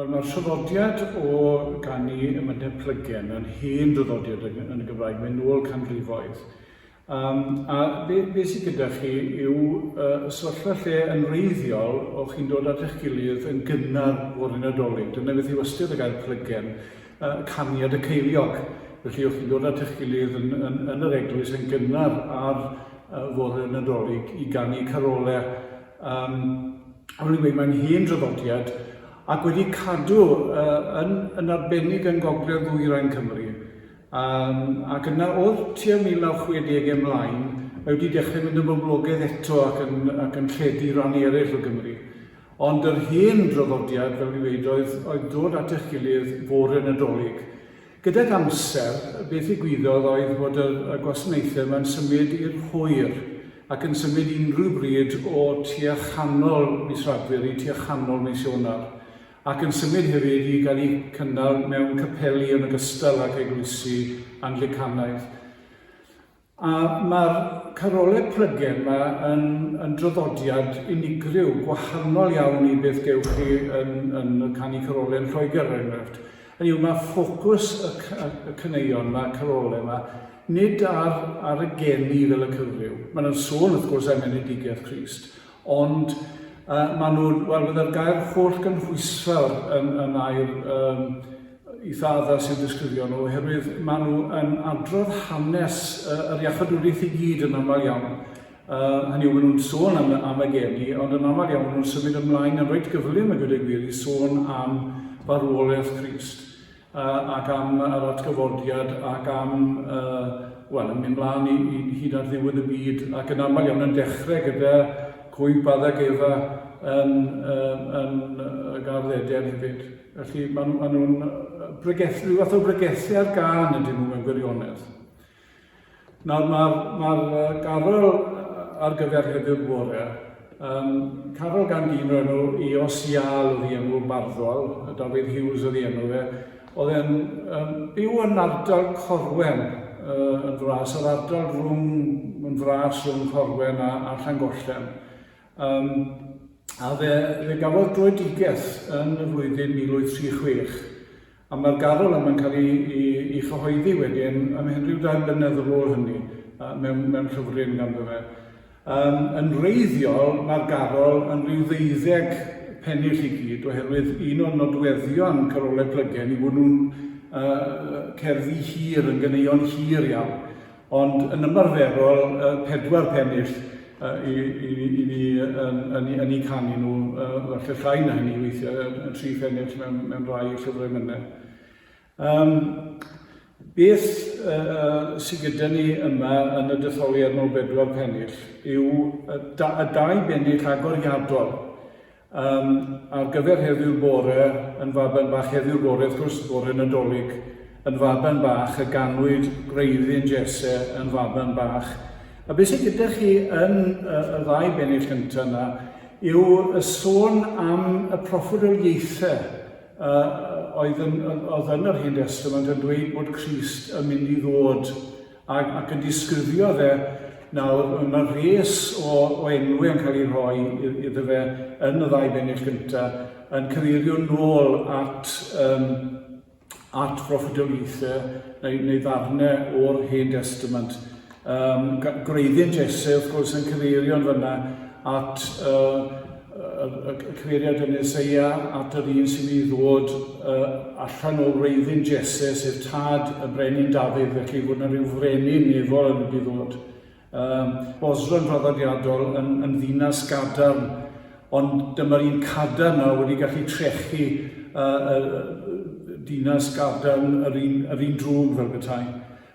Wel, mae'r traddodiad o ganu Ymynedd Plygen yn hen draddodiad yn, yn y Gymraeg, mae'n ôl canrifoedd. Um, a be, be sydd gyda chi yw uh, sefyllfa lle yn wreiddiol o chi'n dod at eich gilydd yn gynnar fod yn adolyg. Dyna beth yw ystyr y gair plygen, uh, caniad y ceiliog. Felly o'ch chi'n dod at eich gilydd yn, yn, yn yr eglwys yn gynnar ar uh, fore yn adolyg i ganu carolau Um, o'n i'n gweud, mae'n hen draddodiad ac wedi cadw uh, yn, yn arbennig yn gogledd ddwyrain Cymru. Um, ac yna o'r tua 1960 ymlaen, mae wedi dechrau mynd yn boblogaidd eto ac yn, ac yn lledu rhan eraill o Gymru. Ond yr hen draddodiad, fel dwi'n dweud, oedd, oedd dod at eich gilydd fore yn y dolyg. Gydag amser, be ddigwyddodd oedd bod y y gwasanaethau yma'n symud i'r hwyr, ac yn symud unrhyw bryd o tua chanol mis Rhagfyr i tua chanol mis Ionawr, ac yn symud hefyd i gael eu cynnal mewn capeli yn ogystal ag eglwysi Anglicanaidd. A mae'r carolau plygen 'ma yn yn draddodiad unigryw, gwahanol iawn i beth gewch chi yn yn canu carolau yn Lloegr er enghraifft. Hynny yw, mae ffocws y y caneuon 'ma, carolau 'ma, nid ar ar y geni fel y cyfryw. Maen nhw'n sôn wrth gwrs am enedigaeth Crist, ond yy maen nhw'n, wel, fydde'r gair hollgynhwysfawr yn yn air yym y ffathers i'w disgrifio nhw oherwydd maen nhw yn adrodd hanes uh, yr iachadwriaeth i gyd yn aml iawn. Uh, hynny yw, maen nhw'n sôn am, am y geni, ond yn aml iawn maen nhw'n symud ymlaen yn rhaid gyflym y gyda gwir i sôn am farwolaeth Christ uh, ac am yr atgyfodiad ac am, uh, wel, yn mynd mlaen i, i hyd ar ddiwedd y byd ac yn aml iawn yn dechrau gyda cwymp adag efa yn, uh, yn uh, gardd Eden hefyd. Felly maen nhw, maen nhw'n bregethu, rhyw fath o bregethu ar gan y dyn nhw mewn gwirionedd. Nawr mae'r ma garol ar gyfer heddiw bore, um, carol gan dyn o'r enw i Osial oedd i enw barddol, y Dafydd Hughes oedd i enw fe, oedd e'n um, byw yn ardal Corwen, uh, yn fras, yr ardal rhwng, yn fras rhwng Corwen a, a Llangollen. Um, a fe, fe gafodd droedigaeth yn y flwyddyn 1836, a mae'r garol yma'n cael ei, ei, ei chyhoeddi wedyn ym Henryw dau blynedd ar ôl hynny, uh, mewn, mewn llyfryn ganddo fe. Um, yn reiddiol, mae'r garol yn rhyw ddeuddeg pennill i gyd, oherwydd un o'r nodweddion carolau plygen i fod nhw'n uh, cerddi hir, yn ganeuon hir iawn. Ond yn ymarferol, pedwar pennill i, i, i ni yn, yn, yn eu canu nhw, falle llai na hynny weithiau, tri phennill mewn, mewn rhai llyfrau mynnau. Um, beth uh, sydd gyda ni yma yn y detholiad mewn bedwar pennill yw y, da, y dau bennill agoriadol Yym, ar gyfer heddiw'r bore, yn faban bach heddiw'r bore, wrth gwrs, bore Nadolig, yn faban bach y ganwyd gwreiddyn Jesse yn faban bach. A beth sydd gyda chi yn y, y ddau bennill gyntaf yna yw y sôn am y proffwyd o ieithe uh, oedd yn, oedd yn yr Hen Testament yn dweud bod Christ yn mynd i ddod Ac, ac yn disgrifio fe, nawr, mae rhes o, o enwau yn cael ei rhoi iddo fe yn y ddau bennill gyntaf, yn cyfeirio nôl at, um, at broffidoliaethau neu, neu ddarnau o'r Hen Testament. Um, gwreiddiau'n Jesse, wrth gwrs, yn cyfeirio yn fyna at uh, y cyfeiriad yn Eseia at yr un sy'n mynd i ddod uh, allan o wreiddyn Jesse, sef tad y brenin Dafydd, felly bod yna rhyw frenin nefol yn mynd i ddod. Um, Bosron draddodiadol yn, yn ddinas gadarn, ond dyma'r un cadarn a wedi gallu trechu uh, uh, dinas gadarn yr un, yr un drwg fel bethau.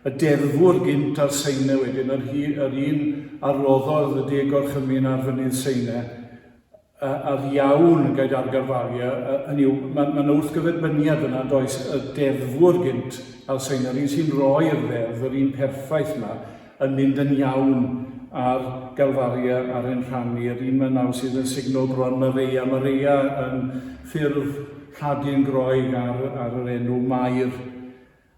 y deddfwr gynt ar Seine wedyn, yr hi, yr un a roddodd y de gorchymyn ar fynydd Seine, a, a'r iawn gaid ar Garvalia, a, hynny yw, mae ma yna wrthgyferbyniad fyna yn does, y deddfwr gynt ar Seine, yr un sy'n roi'r ddeddf, yr un perffaith yma, yn mynd yn iawn ar Garvalia ar ein rhan ni, yr un mae nawr sydd yn signo bron Mareia, Mareia yn ffurf Lladin Groeg ar, ar yr enw Mair.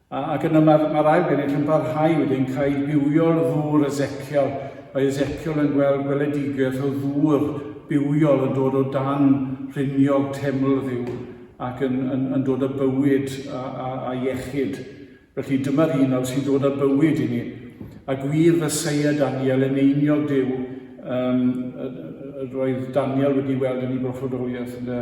Ac yna mae'r, mae'r ail genedl yn parhau wedyn cael bywio'r ddŵr Ezekiel. Mae Ezekiel yn gweld gweledigaeth o ddŵr bywiol yn dod o dan rhiniog teml ddiw ac yn, yn, yn dod â bywyd a, a, a iechyd. Felly dyma'r un nawr sy'n dod â bywyd i ni. A gwir fe seia Daniel yn einiog Duw, um, roedd Daniel wedi weld yn ei broffodoliaeth, ynde,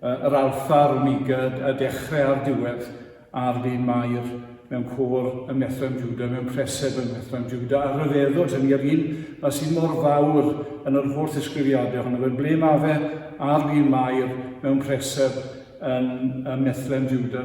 Yr alfa, yr omega, y dechrau a'r diwedd, a'r fin Mair mewn côr yn Methlehem Juda, mewn preseb yn Methlehem Juda, a rhyfeddod, hynny yr un a sydd mor fawr yn yr holl ddisgrifiadau ohono fe, ble mae fe a'r fin Mair mewn preseb yn Methlehem Juda.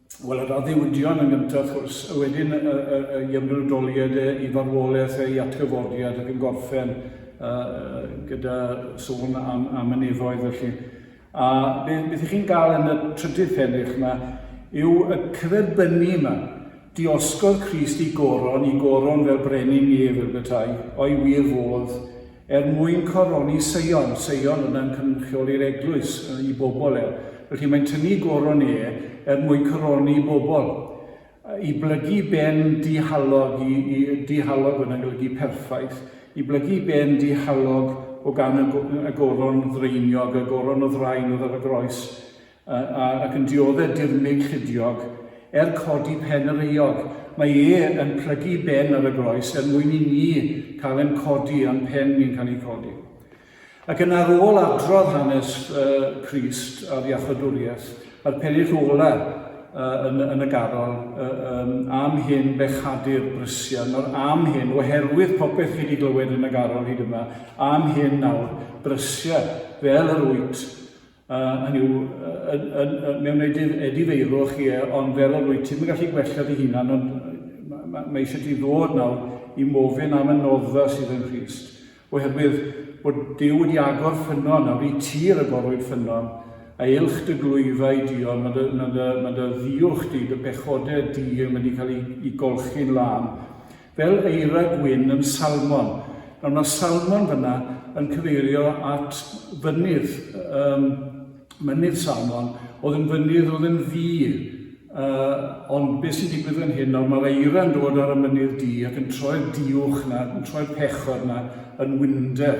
Wel, yr addewidion yn gyntaf, wrth gwrs, a wedyn y, y, y, y ymrydoliad e, i farwolaeth ei atgyfodiad ac yn gorffen uh, gyda sôn am, am y nefoedd felly. A beth, beth ych chi'n gael yn y trydydd pennych yma yw y crebynnu yma. Diosgodd Christ i goron, i goron fel brenin nef fel bethau, o'i wir fodd, Er mwyn coroni Seion, Seion yna yn cynrychioli'r eglwys, i bobl e. Felly mae'n tynnu goron e er mwyn coroni bobl. I blygu ben dihalog, i, i dihalog yna'n golygu perffaith, i blygu ben dihalog o gan y, y goron ddraeniog, y goron o ddraen oedd ar y groes, A, a, ac yn diodde' dirmyg llidiog, er codi pen yr euog, mae e yn plygu ben ar y groes er mwyn i ni cael ein codi, a'n pen ni'n cael ei chodi. Ac yn ar ôl adrodd hanes uh, Crist a'r Iachadwriaeth, a'r pennill ola uh, yn, yn y garol, uh, um, am hyn bechadir brysia, nawr am hyn, oherwydd popeth chi wedi glywed yn y garol hyd yma, am hyn nawr, brysia, fel yr wyt, Hynny yw, mi wnei di edifeirwch chi e, ond fel yr wyt ti'm yn gallu gwella dy hunan, ond mae eisiau ti ddod nawr i mofyn am y noddfa sydd yn Nghrist, oherwydd bod Duw wedi agor ffynnon, nawr i ti ragorwyd ffynnon, a uwch dy glwyfa i Dion, mae dy, mae dy, mae dy ddiwch di, dy pechodau di yn mynd i cael i, i golchi'n lân. fel eira gwyn yn Salmon. Nawr mae Salmon fyna yn cyfeirio at fynydd, um, mynydd Salmon, oedd yn fynydd oedd yn ddi. Uh, ond beth sy'n digwydd fan hyn, nawr mae'r eira yn dod ar y mynydd di ac yn troi'r diwch na, yn troi'r pechod na yn winder.